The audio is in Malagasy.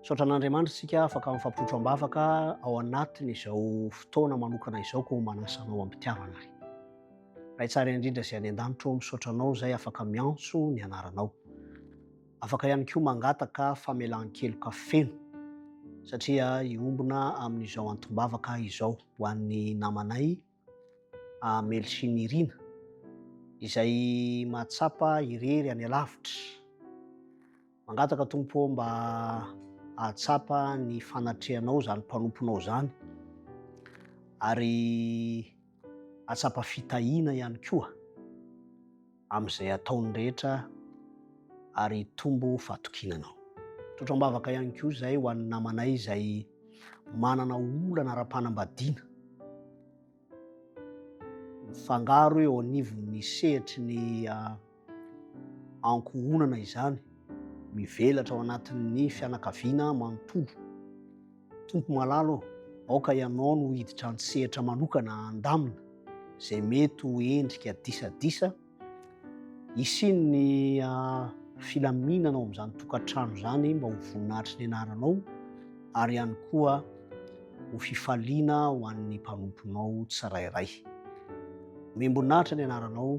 Misaotra an'Andriamanitra isika afaka mifampitotro am-bavaka ao anatin'izao fotoana manokana izao koa manasa anao am-pitiavana ary. Ray tsara indrindra izay any an-danitra misaotra anao izay afaka miantso ny anaranao. Afaka ihany koa mangataka famelan-keloka feno satria hiombona amin'izao antom-bavaka izao ho an'ny namanay Amel sy Nirina izay mahatsapa irery any alavitra. Mangataka Tompo mba ahatsapa ny fanatrehanao izany mpanomponao izany ary ahatsapa fitahiana ihany koa. amin'izay ataony rehetra ary hitombo fahatokiana anao. Tsotra am-bavaka ihany koa izay ho an'ny namanay izay manana olana ara-panambadiana mifangaro eo anivon'ny sehatry ny ah, ankohonana izany mivelatra ao anatin'ny fianakaviana manontolo. Tompo malala ô, aoka Ianao no hiditra an-tsehatra manokana handamina izay mety ho endrika disadisa hisian'ny ah, filaminana ao amin'izany tokantrano izany mba ho voninahitry ny Anaranao ary ihany koa ho fifaliana ho an'ny mpanomponao tsirairay. Omem-boninahitra ny Anaranao.